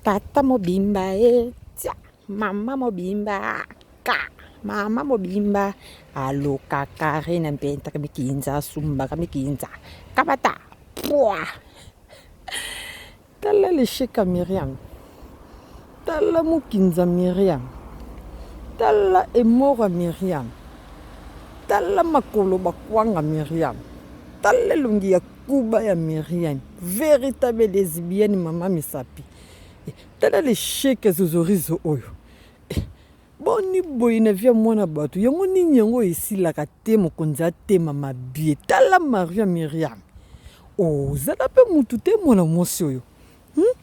tata mobimba ye eh, tia mama mobimba ka mama mobimba aloka kare na mpenta ka mikinza asumbaka mikinza kabata pwa tala lesheka miriam tala mokinza miriam tala emora miriam tala makolo bakwanga miriam tala elongi ya Kuba ya Miriam veritable lesbienne maman misapi eh, tala le cheke zozorizo oyo eh, boni boye na via mwana bato yango nini yango esilaka te mokonzi atema mabie tala maria Miriam ozala oh, pe mutu te mwana mwasi oyo Hum?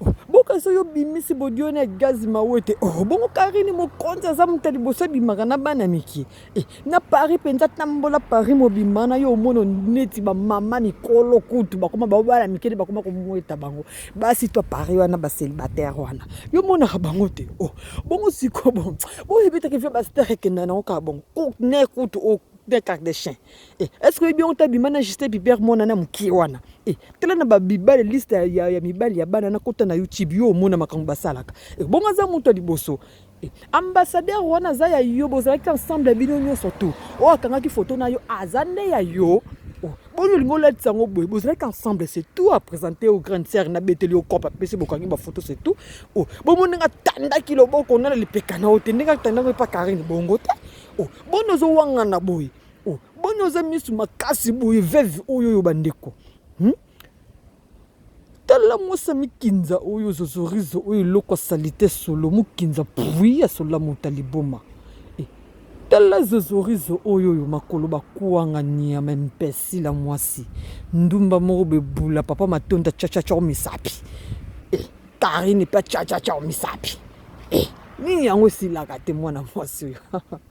Oh, boka soki obimisi bodioni ya gazi mawete oh, bongo karini mokonzi aza moto ya liboso abimaka na bana mike eh, na paris mpenza tambola paris mobimba na yo omono neti bamama mikolo kutu bakoma bao bana mike nde bakoma komweta bango basi to paris wana baselibataire wana yo omonaka bango te oh, bongo siko bongo boyebetaki via bastere ekenda nango kaka bongo ne kutu o oh, de carte de chien Eh, est-ce que oyebi yango te abima na juste biber mwana na mokie wana eh, tala na babibale liste ya, ya, ya mibali ya bana nakota na youtube yo omona makambo basalaka eh, bongo aza moto ya liboso eh, ambassadeur wana aza ya yo bozalaki ensemble ya bino nyonso tu oyo akangaki foto na yo aza nde ya yo oh, boni olingi olatisa yango boye bozalaki ensemble c'est tout apresente o grande sœur nabeteli yo cope apesi bokangi bafoto c'est tout oh, bomoni ndenge atandaki loboko na na lipeka na yo te ndenge atandaki epa karine bongo te oh, boni ozowangana boye Oh, boni oza misu makasi boye veve oyo oyo bandeko hmm? tala mwasi ya mikinza oyo zozorizo oyo eloko asali te solo mokinza pui ya sola mota liboma e tala zozorizo oyo oyo makolo bakuanga niama impesila mwasi ndumba moko bebula papa matonda chachacha omisapi e karine mpe achachacha omisapi e nini yango esilaka te mwana mwasi oyo